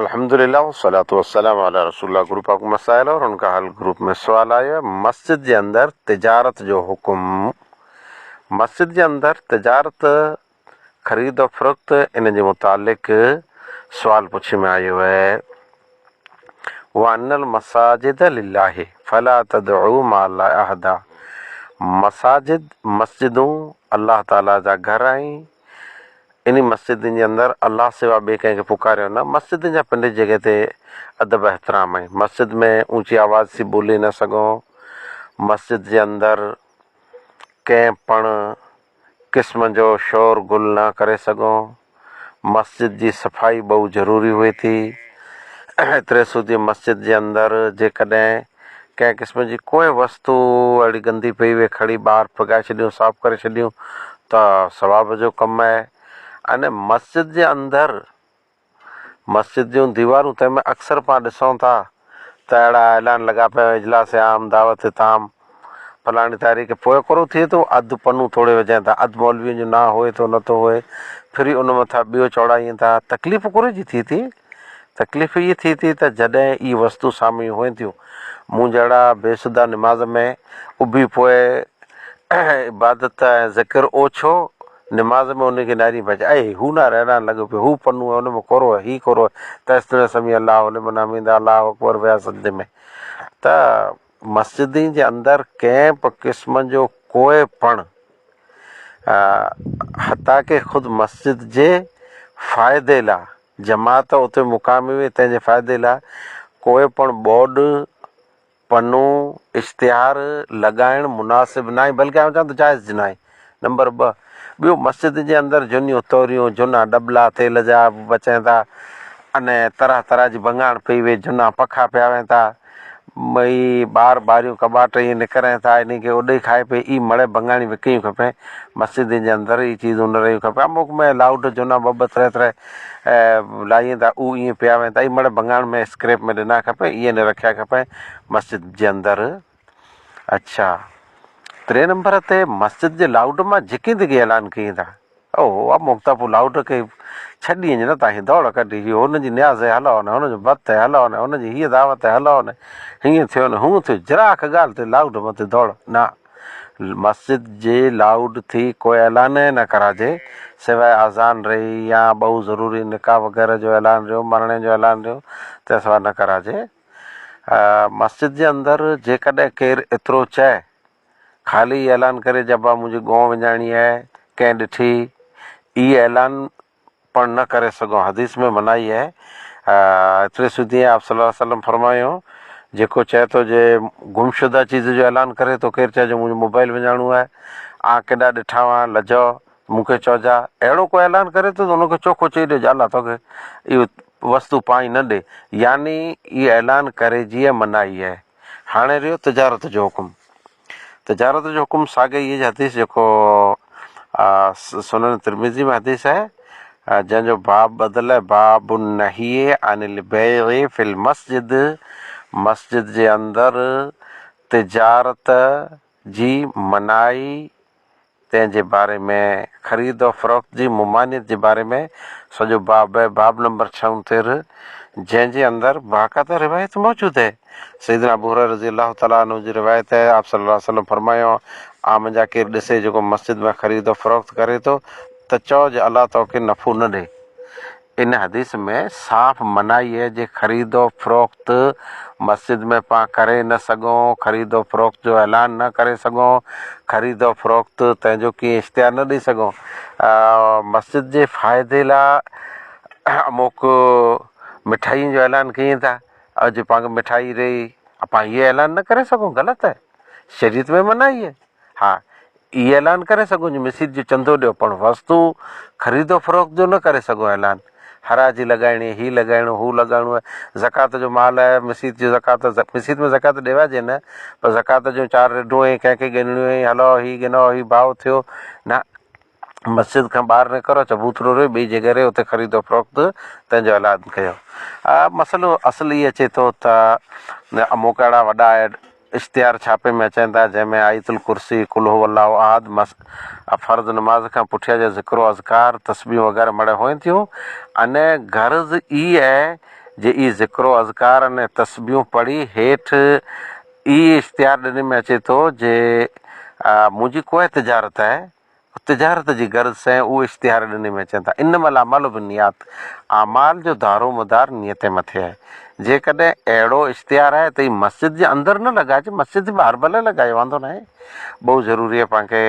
الحمد لله والصلوة والسلام علی رسول الله گروپ پاڪ مسائل اور ان کا حل گروپ ۾ سوال آيو آهي مسجد جي اندر تجارت جو حڪم مسجد جي اندر تجارت خريد و فروخت ان جي متعلق سوال پڇي ۾ آيو آهي وان المساجد لله فلا تدعو مع الله احدا مساجد مسجدون الله تعالي جا گهر آهن انهن مسجدن جي اندر الله سوا ٻئي ڪنهن کي پڪاريو نه. مسجدن جا پنڊت جڳهه تي ادب احترام ۽. مسجد ۾ اوچي آواز سين ٻولي نه سگهون. مسجد جي اندر ڪنهن پڻ قسم جو شور غل نه ڪري سگهون. مسجد جي صفائي ٻئو ضروري هئي ٿي. ايتري سوڌي مسجد جي اندر جيڪڏهن. ڪنهن قسم جي ڪوئي وستو اهڙي گندي پئي وئي کڻي ٻاهر ڦڳائي ڇڏيون صاف ڪري ڇڏيون ته ثواب جو ڪم آهي ان مسجد جي اندر مسجد جون ديوارون تنهن ۾ اڪثر پان ڏسون ٿا ته اهڙا اعلان لڳا پيا آهن اجلاس عام دعوت تام فلاڻي تاريخ پوء اڪرو ٿئي ٿو اڌ پنو توڙي وجهين ٿا اڌ مولوين جو نانء هئي ٿو نه ٿو هئي ڦري ان مٿان ٻيو چوڙائين ٿا تڪليف اڪري جي ٿئي ٿي تڪليف هيء ٿئي ٿي ته جڏهن اهي وستون سامهين هئين ٿيون، مون جهڙا بي سڌا نماز ۾ اڀي پوء عبادت ۽ ذڪر اوڇو، نماز ۾ انهيء کي نعري ڀڄ اي هو نعري اڏائڻ لڳو پيو، هو پنو ۽ ان ۾ ڪورو ۽ هي ڪورو ۽ تيس تڙين سميع الله لمن حميده الله اڪبر ويا سجدي ۾. ته مسجدين جي اندر ڪنهن به قسم جو ڪوئي پڻ حتيٰ ڪه خود مسجد جي فائدي لا. جماعت اتي مقامي هئي، تنهن جي فائدي لاء ڪوئي پڻ بورڊ، پنو، اشتهار لڳائڻ مناسب ناهي، بلڪه آئون چوان ٿو جائز ناهي. نمبر ٻه، ٻيو مسجد جي اندر جھونيون توريون، جھونا ڏٻلا تيل جا بچين ٿا، انهيء طرح طرح جي ڀڱاڻ پئي ويهي، جھونا پکا پيا وهين ٿا، ٻئي ٻار ٻاريون ڪٻاٽ ائين نڪرين ٿا انهي کي اڏئي کائي پئي اي مڙئي ڀڱاڻي وڪڻيون کپين مسجدين جي اندر اي چيزون نه رهيون کپين اموڪ ۾ لاؤڊ جونا ٻه ٻه تري تري لائين ٿا اهو ائين پيا وين ٿا اي مڙئي ڀڱاڻ ۾ اسڪريپ ۾ ڏنا کپين اي نه رکيا کپين مسجد جي اندر اڇا تري نمبر تي مسجد جي لاؤڊ مان جهڪيندي ڪي اعلان ڪيئين ٿا. او اب مڪتا پور لائوٽ کي ڇهه ڏينهن جي نه تاهين دوڙ ڪڍي هيو هن جي نياز هي هلئو نه هن جو بت هي هلئو نه هن جي هيء دعوت هي هلئو نه هيئن ٿيو نه هونء ٿيو ذرا هڪ ڳالهه تي لائوٽ مٿي دوڙ نه مسجد جي لائوٽ ٿي ڪو اعلان هي نه ڪراجي سواء آذان ري يا ٻئو ضروري نڪاح وغيره جو اعلان ريو مرڻي جو اعلان ريو تنهن سواء نه ڪراجي مسجد جي اندر جيڪڏهن ڪير ايترو چئه خالي هي اعلان ڪري جبا منهنجي ڳون وڃائڻي آهي ڪنهن ڏٺي اي اعلان پڻ نه ڪري سگهون حديث ۾ منائي آهي ايتري سڌي ۽ آپ صلي الله عليه وسلم فرمايو جيڪو چئي ٿو جي گمشده چيز جو اعلان ڪري تو ڪير چئجو منهنجو موبائل وڃائڻو آهي آن ڪيڏا ڏٺا هئا لجو مون کي چئجا اهڙو ڪو اعلان ڪري ٿو ته ان کي چوکو چئي ڏيجو الله تو کي اهو وستو پائي نه ڏي يعني اي اعلان ڪري جي منائي آهي هاڻي رهيو تجارت جو حڪم. تجارت جو حڪم ساڳئي هي حديث جيڪو سنن ترمذي ۾ حديث آهي جنهن جو باب ٻڌل آهي باب النهي عن البيع في المسجد مسجد جي اندر تجارت جي منائي تنهن جي باري ۾ خريد و فروخت جي ممانعت جي باري ۾ سڄو باب آهي، باب نمبر ڇهه ۽ تيرهن، جنهن جي اندر باقاعده روايت موجود آهي. سيدنا ابو هريره رضي الله تعالٰي عنه جي روايت آهي، آپ صلّي الله عليه وسلّم فرمايو، آء منجهان ڪير ڏسي جيڪو مسجد ۾ خريد و فروخت ڪري ٿو ته چئو جو الله توکي نفعو نه ڏي. ان حديث ۾ صاف منعي جي خريد و فروخت مسجد ۾ پان ڪري نه سگهون، خريد و فروخت جو اعلان نه ڪري سگهون، خريد و فروخت تنهن جو ڪيئن اشتهار نه ڏئي سگهون. مسجد جي فائدي لا اموڪ مٺائين جو اعلان ڪيئين ٿا ۽ جي پان کي مٺائي رهي پان هيء اعلان نه ڪري سگهون غلط آهي شريعت ۾ منعي آهي ها. اهي اعلان ڪري سگهون جو مسيت جو چندو ڏيو پڻ وستو خريد و فروخت جو نه ڪري سگهون اعلان حراجي لڳائڻي هي لڳائڻو هو لڳائڻو آهي زڪوات جو مال آهي مسيت جو زڪوات مسيت ۾ زڪوات ڏيوائجي نه پر زڪوات جون چار رڍون ۽ ڪنهن کي ڳنڙيون ۽ هلئو هي ڳنئو هي ڀائو ٿيو نه مسجد کان ٻاهر نه ڪرو چبوترو رهي ٻئي جي گهري اتي خريد و فروخت تنهن جو اعلان ڪيو مسئلو اصل هي اچي ٿو ته اموڪا اهڙا وڏا اشتهار ڇاپي ۾ اچن ٿا، جنهن ۾ آيت الڪرسي، قل هو الله احد، مس، ۽ فرض نماز کان پٺيان جا ذڪر و اذڪار، تسبيحون وغيره مڙهيون هئن ٿيون ۽ غرض ئي اهي جي اهي ذڪر و اذڪار ۽ تسبيحون پڙهي هيٺ ئي اشتهار ڏني ۾ اچي ٿو جي منهنجي ڪوهه تجارت آهي تجارت جي غرض سين اهو اشتهار ڏني ۾ اچن ٿا انما الاعمال بالنيات اعمال جو دارو مدار نيتي مٿي آهي جيڪڏهن اهڙو اشتهار آهي ته هي مسجد جي اندر نه لڳائج مسجد جي ٻاهر ڀلي لڳائي واندو ناهي ٻئو ضروري آهي پان کي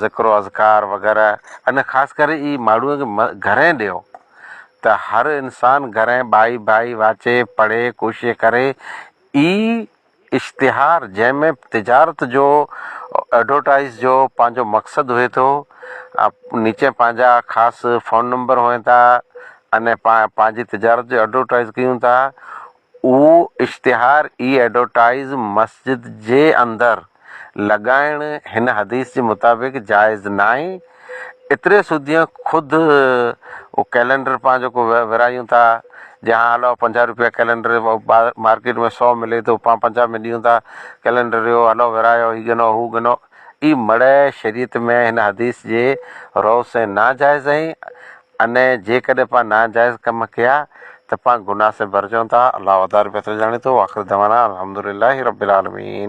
ذڪر و اذڪار وغيره ان خاص ڪري هي ماڻهو کي گهرين ڏيو ته هر انسان گهرين ٻائي ڀائي واچي پڙهي ڪوشش ڪري هي اشتهار جنهن ۾ تجارت جو ايڊورٽائز جو پنهنجو مقصد هئي ٿو نيچي پنهنجا خاص فون نمبر هئين ٿا ان پنهنجي تجارت جو ايڊورٽائز ڪيون ٿا اهو اشتهار ئي ايڊورٽائز مسجد جي اندر لڳائڻ هن حديث جي مطابق جائز ناهي ايتري سوديء خود اهو ڪئلينڊر پاڻ جيڪو ورهايون ٿا، جي هاڻ هلئو پنجاهه روپيه ڪئلينڊر مارڪيٽ ۾ سؤ ملي ٿو، پاڻ پنجاهه ۾ ڏيون ٿا، ڪئلينڊر اهو هلئو ورهايو، هي ڳنئو هو ڳنئو، اي مڙئي شريعت ۾ هن حديث جي رؤ سين ناجائز آهي، انئين جيڪڏهن پاڻ ناجائز ڪم ڪيا ته پاڻ گناهه سين ڀرجون ٿا، الله وڌاري بهتر ڄاڻي ٿو، واخر دعوانا ان الحمدلله رب العالمين.